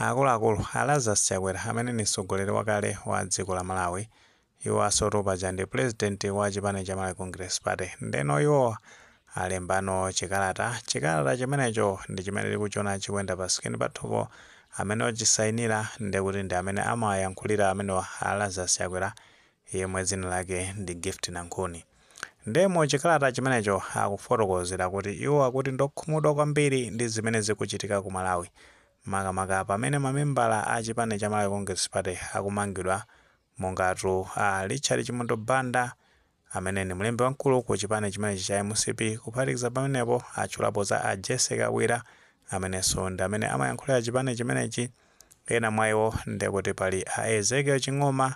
Akuluakulu a Lazarus Chakwera amene ndi mtsogoleri wakale wa dziko la Malawi iwowasotu paja ndi pulezidenti wa chipani cha Malawi Congress Party ndeno iwo alembano chikalata chikalata chimenecho ndi chimene tikuchiona chikuyenda pa screen pathupo amene ochisayinira ndekuti ndi amene amawayankhulira amenewa a Lazarus Chakwera yemwe dzina lake ndi Gift Nankhuni. Nde mu chikalata chimenecho akufotokozera kuti iwo akuti ndiokhumudwa kwambiri ndi zimene zikuchitika ku Malawi makamaka pamene mamembala a chipani cha Malawi Congress Party akumangidwa mongatu a Richard Chimwendo Banda amene ndi mlembi wamkulu ku chipani chimenechi cha mcp kuphatikiza pamenepo atchulapo za a Jessie Kabwila amenenso ndi amene amayankhulira chipani chimenechi Ena mwa iwo ndekuti pali a Ezekiel Ching'oma,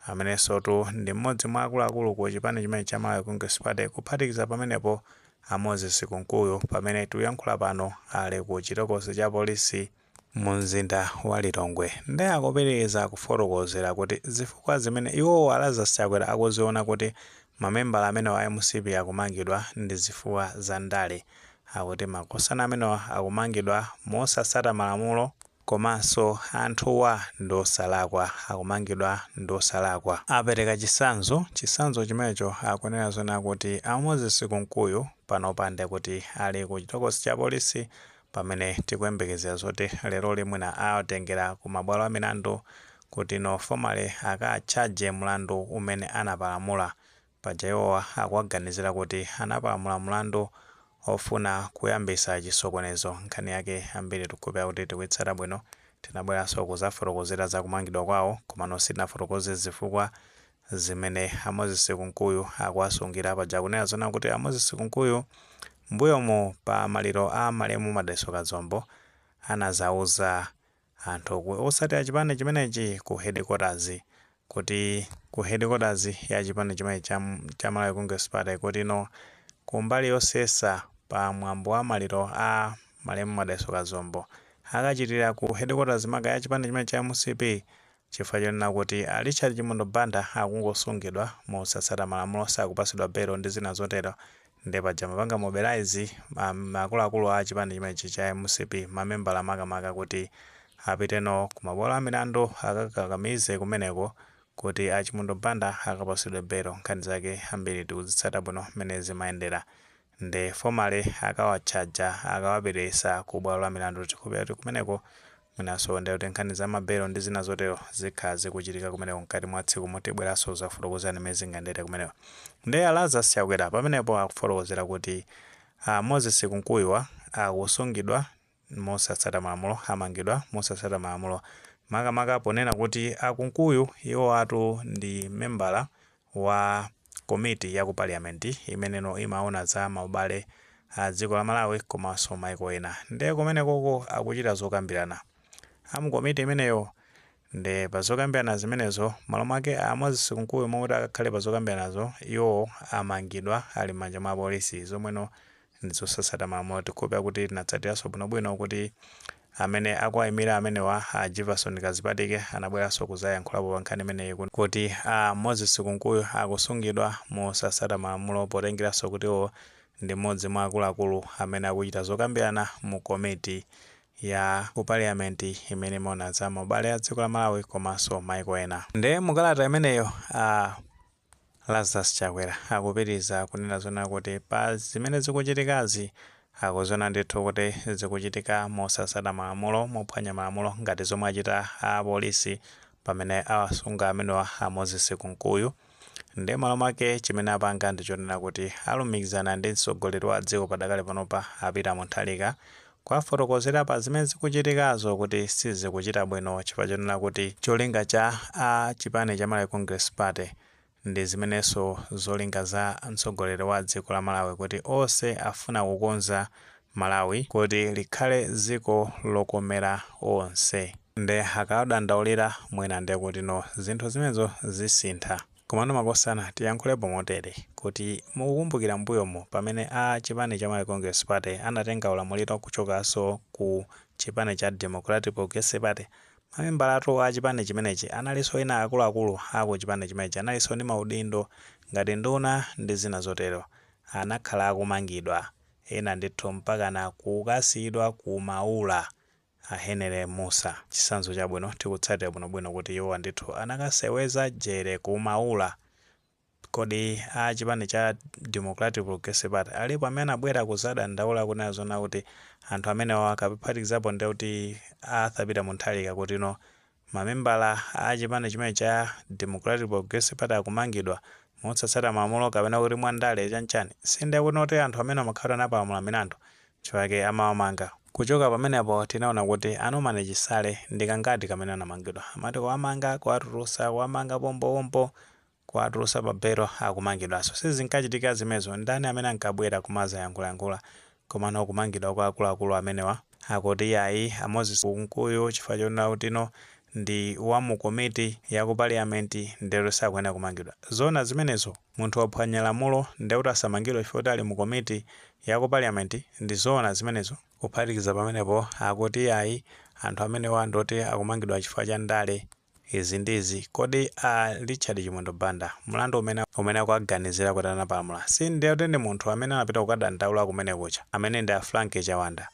amenensotu ndi m'modzi mwa akuluakulu ku chipani chimenechi cha Malawi Congress Party, kuphatikiza pamenepo a Moses Kunkuyu pamene tikuyankhula pano ali ku chitokosi cha polisi mu mzinda wa Lilongwe. Nde akupitiliza kufotokozera kuti zifukwa zimene iwowo a Lazarus Chakwera akuziona kuti Mamembala amenewa a mcp akumangidwa ndizifukwa za ndale. Akuti makosana amenewa akumangidwa mosatsata malamulo komanso anthuwa ndiosalakwa, akumangidwa ndiosalakwa. Apereka chitsanzo, chitsanzo chimenecho akunena zonena kuti a Moses Kunkuyu panopa ndekuti ali ku chitokosi cha polisi Pamene tikuyembekezera zoti leroli mwina awatengera ku mabwalo a milandu kuti no formally aka charge mlandu umene anapalamula, paja iwowa akuwaganizira kuti anapalamula mlandu ofuna kuyambisa chisokonezo, nkhani yake ambiri tikukhulupira kuti tikuitsata bwino, tinabweraso kuzafotokozera za kumangidwa kwawo komano sitinafotokoze zifukwa Zimene a Moses Kunkuyu akuwasungira, paja akunena zonena kuti a Moses Kunkuyu mmbuyomu pa maliro a malemu Madalitso Kazombo anazauza anthu otsatira chipani chimenechi ku headquarters kuti ku headquarters ya chipani chimenechi cha cha Malawi Congress Party kuti no kumbali yosesa pa mwambo wa maliro a malemu Madalitso Kazombo akachitira ku headquarters maka ya chipani chimenechi cha mcp Chifukwa chonena kuti a Richard Chimwendo Banda akungosungidwa mosatsata malamulo, sakupatsidwa belo ndi zina zotero, nde paja amapanga mobilize ma akuluakulu a chipani chimenechi cha mcp, mamembala makamaka kuti apite nawo ku mabwalo a milandu akakakamize kumeneko kuti a Chimwendo Banda akapatsidwe belo. Nkhani zake ambiri tikuzitsata bwino mmene zimayendera. nde formally akawatchaja akawapitisa ku bwalo la milandu tikukhulupilira kuti kumeneko mwinaso nde kuti nkhani za ma belo ndi zina zotero zikhala zikuchitika kumeneko mkati mwa tsikumo tibweraso kuzafotokozani mmene zingayendere kumeneko nde a Lazarus Chakwera pamenepo akufotokozera kuti a Moses Kunkuyuwa akusungidwa mosatsata malamulo amangidwa mosatsata malamulo makamaka ponena kuti a Kunkuyu iwowatu ndi membala wa komiti ya ku parliament imene imaona za maubale a dziko la Malawi komanso maiko ena nde kumenekoko akuchita zokambirana a mu komiti imeneyo Nde pa zokambirana zimenezo, malo mwake a Moses Kunkuyu mokuti akakhale pa zokambiranazo, iwowo amangidwa ali m'manja mwa apolisi, zomwe ndi zosasata malamulo. Tikukhulupira kuti tinatsatiranso bwinobwino kuti amene akuwaimira amenewa a Jivason Kadzipatike anabweranso kuzayankhulapo pa nkhani imeneyi kuno kuti a Moses Kunkuyu akusungidwa mosasata malamulo potengeranso kuti iwowo ndi m'modzi mwa akuluakulu amene akuchita zokambirana mu komiti ya ku parliament imene imaona za maubale a dziko la Malawi komanso maiko ena. Nde mu kalata imeneyo a Lazarus Chakwera akupitiriza kunena zoona kuti pa zimene zikuchitikazi akuziona ndithu kuti zikuchitika mosatsata malamulo, mophwanya malamulo ngati zomwe achita a polisi pamene awasunga amenewa a Moses Kunkuyu. Ndiye malo mwake chimene apanga ndi chonena kuti alumikizana ndi mtsogoleri wa dziko padakali panopa a Peter Mutharika kuwafotokozera pa zimene zikuchitikazo kuti sizikuchita bwino chifukwa chonena kuti cholinga cha a chipani cha Malawi Congress Party ndi zimenenso zolinga za mtsogoleri wa dziko la Malawi kuti onse afuna kukonza Malawi kuti likhale dziko lokomera onse nde akawadandaulira mwina ndi kuti zinthu zimenezo zisintha komano makosana tiyankhulepo motere kuti mukukumbukira mbuyomu pamene a chipani cha Malawi Congress Party anatenga ulamuliro kuchokaso ku chipani cha Democratic Progressive Party mamembalatu a chipani chimenechi analiso ena akuluakulu a ku chipani chimenechi analiso ndi maudindo ngati nduna ndi zina zotero anakhala akumangidwa ena ndithu mpakana kukasiyidwa ku maula. A Henry Mussa, chitsanzo chabwino tikutsatira bwinobwino kuti iwowa ndithu anakaseweza jere ku maula. Kodi a chipani cha Democratic Progressive Party alipo amene anabwera kuzadandaula kunena zoona kuti anthu amenewawa kuphatikizapo ndi kuti a Arthur Peter Mutharika kutino mamembala a chipani chimene cha Democratic Progressive Party akumangidwa mosatsata malamulo kapena kuti mwa ndale chanchani sindiye kuti ndi anthu amene amakhala kuti anapalamula milandu chifukwa chake amawamanga. Kuchoka pamenepo tinaona kuti a Norman Chisale ndi kangati kamene anamangidwa. Amati kuwamanga, kuwatulutsa, kuwamanga pompo pompo kuwatulutsa pa belo akumangidwanso sizinkachitika zimenezo ndani amene ankabwera kumadzayankhulayankhula komano kumangidwa kwa akuluakulu amenewa akuti yayi a moses kunkuyu chifukwa chonena kutino ndi wa mu komiti ya ku paliyamenti ndekuti sakuyenera kumangidwa zoona zimenezo munthu waphwanya lamulo ndekuti asamangidwe chifukwa choti ali mu komiti ya ku paliyamenti ndi zoona zimenezo kuphatikiza pamenepo akuti yayi anthu amenewa ndioti akumangidwa chifukwa cha ndale Izi ndi izi, kodi a Richard Chimwendo Banda mlandu umene akuwaganizira kuti anapalamula si ndi woti ndi munthu amene anapita kukadandaula kumene kuja amene ndi a Frank Chawanda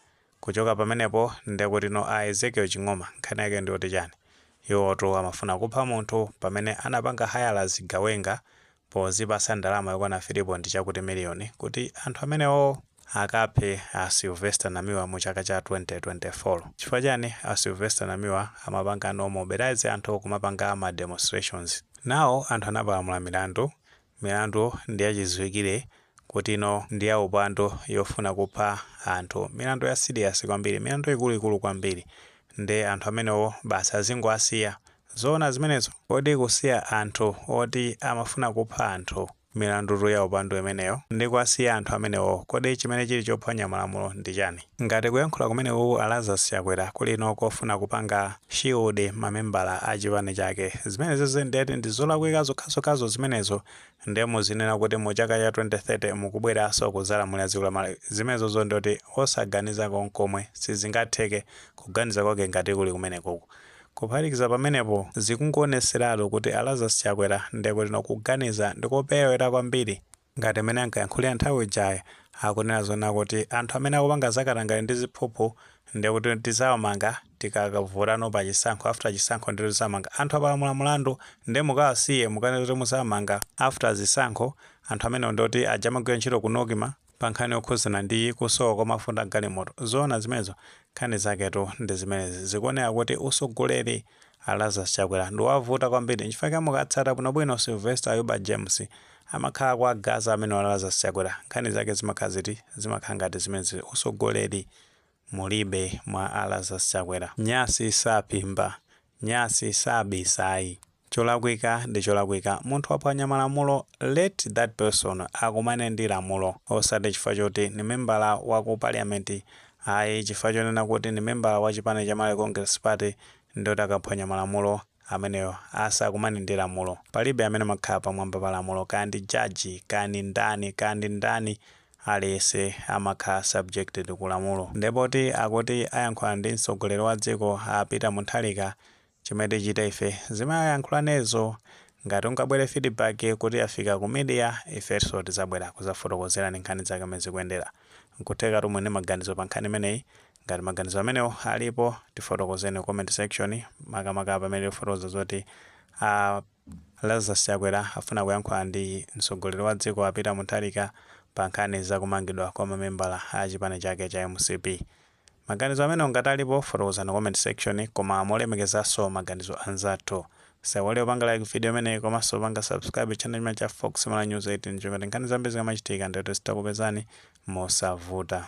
kuchoka pamenepo ndekutino a Ezekiel Ching'oma nkhani yake ndiyoti chani? Iwowotu amafuna kupha munthu pamene anapanga hire zigawenga pozipatsa ndalama yokwana 3 point chakuti million kuti anthu amenewowo akaphe a Sylvester Namiwa mu chaka cha 2024. Chifukwa chani a Sylvester Namiwa amapangano mobilize anthu kumapanga ma demonstrations? Nawo anthu anapalamula milandu, milandu ndi yachidziwikire kutino ndi ya upandu yofuna kupha anthu, milandu ya serious kwambiri, milandu ikuluikulu kwambiri nde anthu amenewo basi azingowasiya? Zoona zimenezo? Kodi kusiya anthu oti amafuna kupha anthu milandutu ya upandu imeneyo ndi kuwasiya anthu amenewo kodi chimene chili chophwanya malamulo ndi chani? Ngati kuyankhula kumenekuku a Lazarus Chakwera kulino kofuna kupanga shield mamembala a chipani chake zimenezizi ndiye kuti ndi zolakwika zokhazokhazo zimenezo ndiye muzinena kuti mu chaka cha 2030 mukubweranso kudzalamulira dziko la Malawi zimenezozo ndiye kuti osaganiza konkomwe sizingatheke kuganiza kwake ngati kuli kumenekuku Kuphatikiza pamenepo, zikungowoneseratu kuti a Lazarus Chakwera nde kutino kuganiza ndikoperewera kwambiri ngati mmene ankayankhulira nthawi ijayi, akunena zokuti anthu amene akupanga za katangale ndi ziphuphu nde kuti tidzawamanga tikakavotano pa chisankho after chisankho nde tidzamanga anthu apalamula mulandu nde mukawasiye mukanene zoti mudzamanga after zisankho anthu amenewo nde kuti aja amagwira ntchito ku Nocma pa nkhani yokhudzana ndi kusowa kwa mafuta agalimoto zoona zimenezo nkhani zaketu ndi zimenezi zikuoneka kuti usogoleri a Lazarus Chakwera ndiwavuta kwambiri nchifukwa chake mukatsata bwinobwino Sylvester Ayuba James amakhala akuwagaza amenewa a Lazarus Chakwera nkhani zake zimakhala ziti zimakhala ngati zimenezi usogoleri mulibe mwa a Lazarus Chakwera nyasi saphimba Nyasi sabisa ayi. Cholakwika ndi cholakwika munthu waphwanya malamulo let that person akumane ndi lamulo osati chifukwa choti ndi membala wa ku parliament ayi chifukwa chonena kuti ndi membala wa chipani cha Malawi Congress Party ndioti akaphwanya malamulo ameneyo asakumane ndi lamulo. Palibe amene amakhala pamwamba pa lamulo kaya ndi judge kaya ndi ndani kaya ndi ndani aliyense amakhala subjected ku lamulo nde poti akuti ayankhulana ndi mtsogoleri wa dziko a peter mutharika chimene tichite ife zimene ayankhulanezo ngati kungabwere feedback kuti yafika ku media ifenso tizabwera kuzafotokozerani nkhani zake mmene zikuyendera nkuthekatu muli ndi maganizo pa nkhani imeneyi ngati maganizo amenewo alipo tifotokozeni ku comment section makamaka pamene tikufotokoza zoti a Lazarus Chakwera afuna kuyankhula ndi mtsogoleri wa dziko a Peter Mutharika pa nkhani za kumangidwa kwa mamembala a chipani chake cha mcp. Maganizo amenewo ngati alipo fotokozani ku comment section koma molemekezanso maganizo a nzathu. Musaiwale kupanga like video imeneyi komanso kupanga subscribe channel chimenechi cha Fox Malawi News 18 choncho kuti nkhani zambiri zikamachitika ndiye kuti zidzakupezani mosavuta.